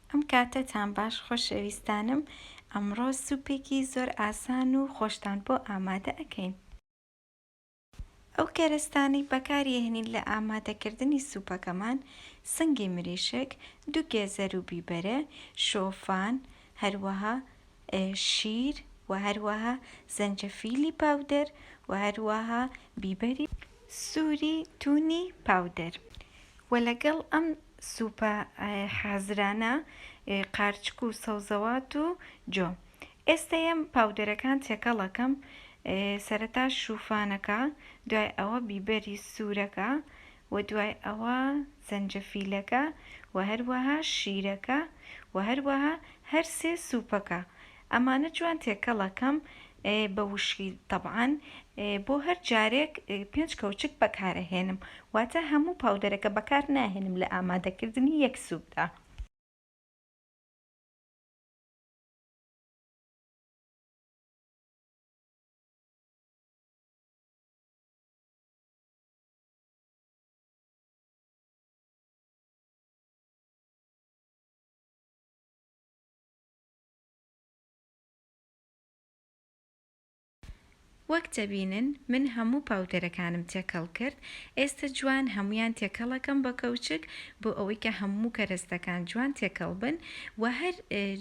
ئەم کاتەتان باش خۆشەویستانم، ئەمڕۆ سوپێکی زۆر ئاسان و خۆشتان بۆ ئامادە ئەکەین. ئەو کەرەستانەی بەکاری ئەهنین لە ئامادەکردنی سوپەکەمان، سنگی مریشک، دوو گێزەر و بیبەرە، شۆفان، هەروەها شیر و هەروەها زەنجەفیلی پاودەر و هەروەها بیبەری سوری تونی پاودەر و لەگەڵ ئەم سوپە حازرانە قارچک و سەوزەوات و جۆ ئێستا یەم پاودەرەکان تێکەڵەکەم سەرەتا شوفانەکە دوای ئەوە بیبەری سورەکە وە دوای ئەوە زەنجەفیلەکە وە هەروەها شیرەکە وە هەروەها هەر سێ سوپەکە ئەمانە جوان تێکەڵەکەم بە وشکی تەبعەن بۆ هەر جارێک پێنج کەوچک بەکارەهێنم واتە هەموو پاودەرەکە بەکار ناهێنم لە ئامادەکردنی یەک سوپدا. وەک دەبینن من هەموو پاودەرەکانم تێکەڵ کرد ئێستە جوان هەموویان تێکەڵەکەم بە کەوچک بۆ ئەوەی کە هەموو کەرەستەکان جوان تێکەڵ بن وە هەر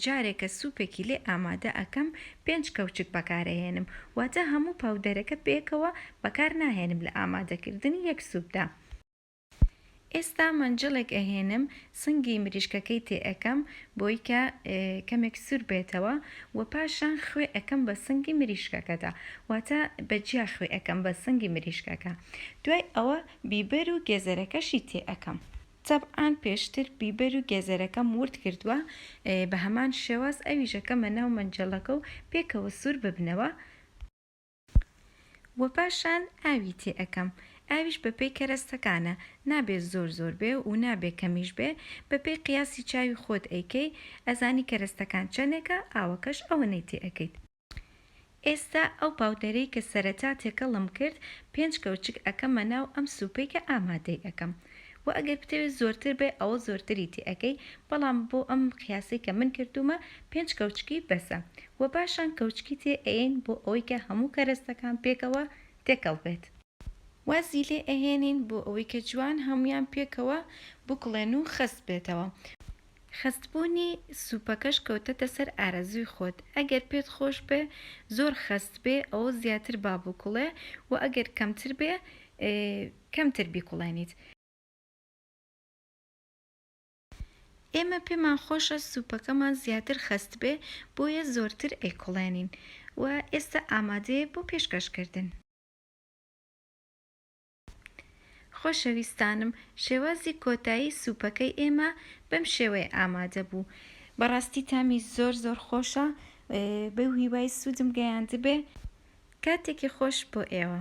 جارێکە سوپێکی لێ ئامادە ئەکەم پێنج کەوچک بەکارەهێنم واتە هەموو پاودەرەکە پێکەوە بەکار ناهێنم لە ئامادەکردنی یەک سوپدا ئێستا مەنجەڵێک ئەهێنم سنگی مریشکەکەی تێ ئەکەم بۆی کە کەمێک سور بێتەوە وە پاشان خوێ ئەکەم بە سنگی مریشکەکەدا واتە بە جیا خوێ ئەکەم بە سنگی مریشکەکە دوای ئەوە بیبەر و گێزەرەکەشی تێ ئەکەم. تەبعان پێشتر بیبەر و گێزەرەکەم ورد کردوە بە هەمان شێواز ئەویش ئەکەمە ناو مەنجەڵەکە و پێکەوە سور ببنەوە و پاشان ئاوی تێ ئەکەم ئاویش بە پێی کەرەستەکانە نابێ زۆر زۆر بێ و نابێ کەمیش بێ بە پێی قیاسی چاوی خۆت ئەیکەی ئەزانی کەرەستەکان چەنێکە ئاوەکەش ئەوەنەی تێ ئەکەیت. ئێستا ئەو پاودەرەی کە سەرەتا تێکەڵم کرد پێنج کەوچک ئەکەمە ناو ئەم سوپەی کە ئامادەی ئەکەم وە ئەگەر بتەوێت زۆرتر بێ ئەوە زۆرتری تێ ئەکەی بەڵام بۆ ئەم قیاسەی کە من کردومە پێنج کەوچکی بەسە وە پاشان کەوچکی تێ ئەیەین بۆ ئەوەی کە هەموو کەرەستەکان پێکەوە تێکەڵ بێت وازی لێ ئەهێنین بۆ ئەوەی کە جوان هەموویان پێکەوە بکوڵێن و خەست بێتەوە. خەستبوونی سوپەکەش کەوتەتە سەر ئارەزووی خۆت، ئەگەر پێت خۆش بێ زۆر خەست بێ ئەوە زیاتر با بکوڵێ و ئەگەر کەمتر بێ کەمتر بیکوڵێنیت. ئێمە پێمان خۆشە سوپەکەمان زیاتر خەست بێ بۆیە زۆرتر ئەیکوڵێنین و ئێستا ئامادەیە بۆ پێشکەشکردن. خۆشەویستانم شێوازی کۆتایی سوپەکەی ئێمە بەم شێوەیە ئامادە بوو بەڕاستی تامی زۆر زۆر خۆشە بەو هیوای سوودم گەیاندبێ کاتێکی خۆش بۆ ئێوە.